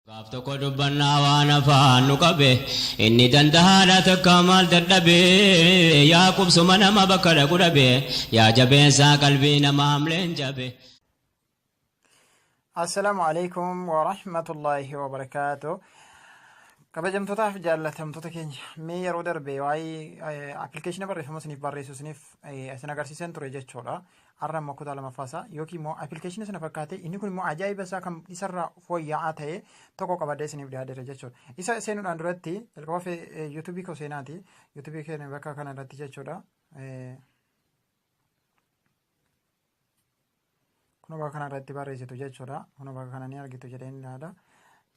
Gaaf tokko dubbannaa waan afaan nu qabe Inni dandahaadha takkaa maal dadhabe Yaa qubsuma nama bakka dhaqu dhabe Yaa jabeessaa qalbii nama hamleen jabe Assalaamu alaikum wa rahmatullahi wa barakaatu. Kabajamtootaaf jaallatamtoota keenya mee yeroo darbe waa'ee appilikeeshina barreeffama isiniif barreessu isiniif isin agarsiiseen ture jechuudha. Har'a immoo kutaa lamaffaa isaa yookiin immoo appilikeeshinii sana fakkaatee inni kun immoo ajaa'iba isaa kan isarraa fooyya'aa ta'e tokko qabadee isiniif dhiyaateera jechuudha. Isa seenuudhaan duratti jalqaba fee yuutuubii koo seenaati. Yuutuubii keenya bakka kana irratti jechuudha. Kun bakka kana irratti barreessitu jechuudha. Kun bakka kana ni argitu jedhee ni ilaala.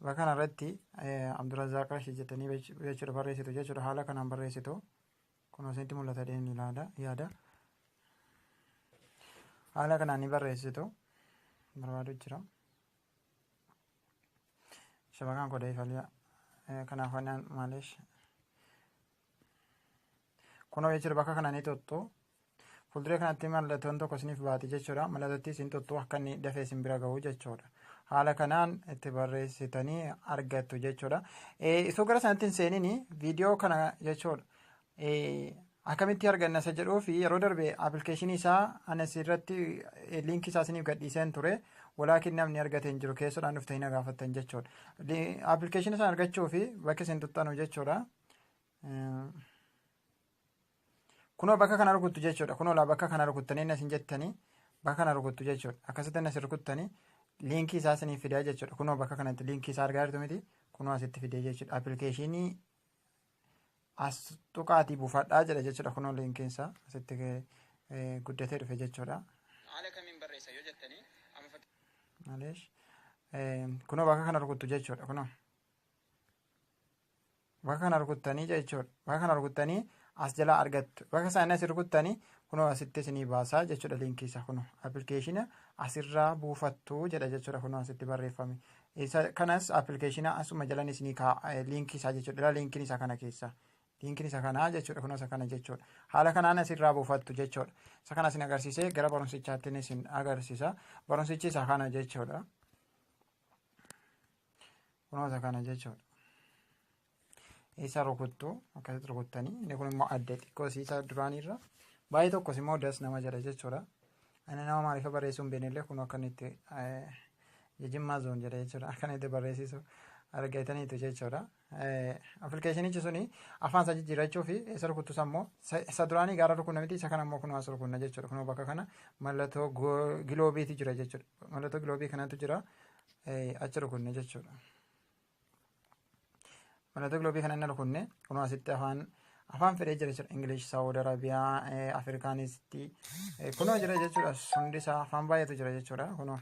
Bakka kana irratti Abdurrazaaq Rashid jettanii jechuudha barreessitu jechuudha. Haala kanaan barreessitu. Kun isinitti mul'ata jedheen ilaala yaada. Haala kanaan ni barreessitu barbaadu jira. Shabakaan koo deefaliyaa. Kanaaf waan maalish. Kunoo jechuudha bakka kana ni tuttu. Fuulduree kanatti mallattoon tokko isiniif baati jechuudha. Mallattotti isin tuttu akka inni dafee isin bira gahu jechuudha. Haala kanaan itti barreessitanii argattu jechuudha. Isoo gara sanatti hin seenini viidiyoo kana jechuudha. Akkamitti arganna isa jedhuu fi yeroo darbe appilikeeshinii isaa anas irratti liinkii isaa isiniif gadhiiseen ture. Walaakin namni argate hin jiru keessodhaan dhufte hin gaafattan jechuudha. Appilikeeshinii isaa argachuu fi bakki isin tuttanu jechuudha. Kunoo bakka kana rukuttu jechuudha. Kunoo laa bakka kana rukuttanii inni isin jettanii bakka kana rukuttu jechuudha. Akkasitti inni isin rukuttanii liinkii isaa isiniif fidaa jechuudha. Kunoo bakka kanatti liinkii isaa argaa jirtu miti. Kunoo asitti fidee jechuudha. Appilikeeshinii as tuqaatii buufadhaa jedha jechuudha. Kunoo liinkiin isaa asitti eh, guddatee dhufe jechuudha. Haala kamiin barreessa yoo jettanii amma fakkii Maleesh. Eh, Kunoo bakka kana rukuttu jechuudha. Kunoo. Bakka kana rukuttanii jechuudha. Bakka kana rukuttanii as jalaa argattu. Bakka isaanii as rukuttanii kunoo asitti isinii baasaa jechuudha liinkii isaa kunoo appilikeeshina asirraa buufattu jedha jechuudha kunoo asitti barreeffame. Isa kanas appilikeeshina asuma jalan isinii kaa'a liinkii isaa jechuudha. Dhala liinkiin isaa kana keessa. Liinkiin isa kanaa jechuudha kunoo isa kana jechuudha. Haala kanaan asirraa buufattu jechuudha. Isa kana isin agarsiisee gara barumsichaattiin isin agarsiisa. Barumsichi isa kana jechuudha. kunoota kana jechuudha isa rukuttu akkasitti rukuttanii inni kun immoo adda xiqqoo siisa duraaniirra baay'ee tokkos immoo das nama jedha jechuudha ani nama maaliif barreessuu hin beeknellee kun akka inni itti jijimmaa zoon jedha jechuudha akka inni itti barreessisu argataniitu jechuudha Appilikeeshinichi suni afaan isaa jijjiirrachuu fi isa rukuttus ammoo isa duraanii gaara rukunna miti isa kana ammoo kunoo as rukunna jechuudha. Kunoo bakka kana mallattoo giloobiitu jira jechuudha. Mallattoo giloobii kanatu jira achi rukunne jechuudha. Mallattoo giloobii kana inni rukunne kunoo asitti afaan afaan fedhee jira jechuudha. Ingilish, Saawud Arabiyaa, Afrikaanisti kunoo jira jechuudha. Hundi isaa afaan baay'eetu jira jechuudha kunoo.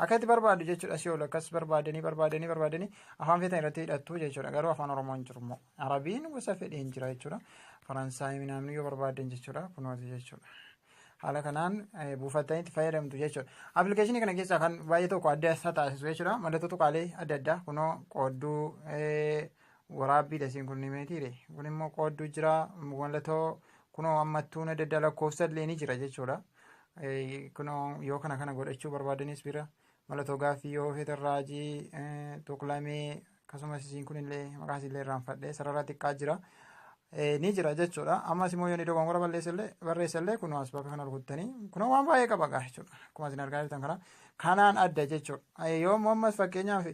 Akka itti barbaaddu jechuudha si oolu akkas barbaadanii barbaadanii barbaadanii afaan feetan irratti hidhattu jechuudha garuu afaan oromoo hin jiru immoo arabiin gosa fedhee hin jira jechuudha faransaayii minaamni yoo barbaadan jechuudha kunooti jechuudha. haala kanaan buufattanii itti fayyadamtu jechuudha. Appilikeeshinii kana keessaa kan baay'ee tokko adda isa taasisu jechuudha. Mallattoo tuqaalee adda addaa kunoo qoodduu waraabbii dasiin kun nimeetiire. Kun immoo qoodduu jira mallattoo kunoo ammattuun adda addaa lakkoofsa illee ni jira jechuudha. Kunoo yoo kana kana godhachuu barbaadanis bira malatoo gaaffii yoo feetan raajii tuqlamee akkasumas isiin kunillee maqaa isinillee irraanfadhee sarara xiqqaa jira. Ni jira jechuudha. Ammas immoo yoo ni dogoggora balleessallee barreessallee kunoo as bakka kana rukuttanii kunoo waan baay'ee qaba gaa jechuudha. Akkuma isin argaa jirtan kana kanaan adda jechuudha. Yoo ammas fakkeenyaaf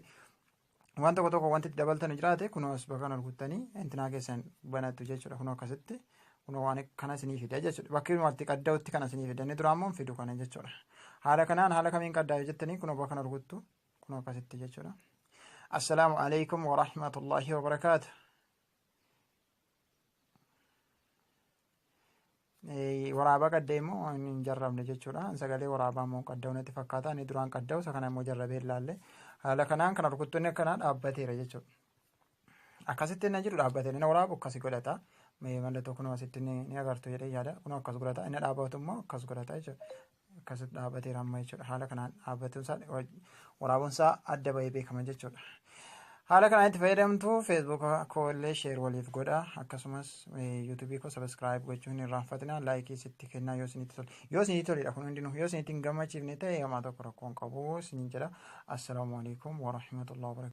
waan tokko tokko wanti itti dabaltanu jiraate kunoo as bakka kana rukuttanii intinaa keessan banattu jechuudha kunoo akkasitti kunoo waan kana isinii fida jechuudha bakki nuti qadda'utti kana isinii fida inni duraa immoo hin fidu kana jechuudha haala kanaan haala kamiin qaddaa yoo jettanii kunoo bakka kana rukuttu kunoo akkasitti jechuudha assalaamu alaikum warahmatullaahi wabarakaatu waraabaa qaddee immoo hin jarrabne jechuudha. Sagalee waraabaa immoo qadda'u natti fakkaata. Inni duraan qadda'u isa kana immoo jarrabee hin laalle. Haala kanaan kana rukuttoonni akkanaa dhaabbateera jechuudha. Akkasitti inni jiru dhaabbatee inni waraabu akkas godhata. Mallattoo kunoo asitti ni agartu jedhee yaada. Kunoo akkas godhata. Inni dhaabatu immoo akkas godhata jechuudha. akkasitti dhaabatee ramma jechuudha. Haala kanaan dhaabbatuun isaa waraabuun isaa adda bahee beekama jechuudha. Haala kanaan itti fayyadamtu Facebook koo illee sheer waliif godha akkasumas YouTube koo subscribe gochuu hin irraanfatina laayikii sitti kennaa yoo isinitti tole yoo isinitti toledha kun hundinuu yoo isinitti hin gammachiifne ta'e hamaa tokko rakkoon qabu isiniin jedha assalaamu alaikum warahmatullahi wabarakatuh.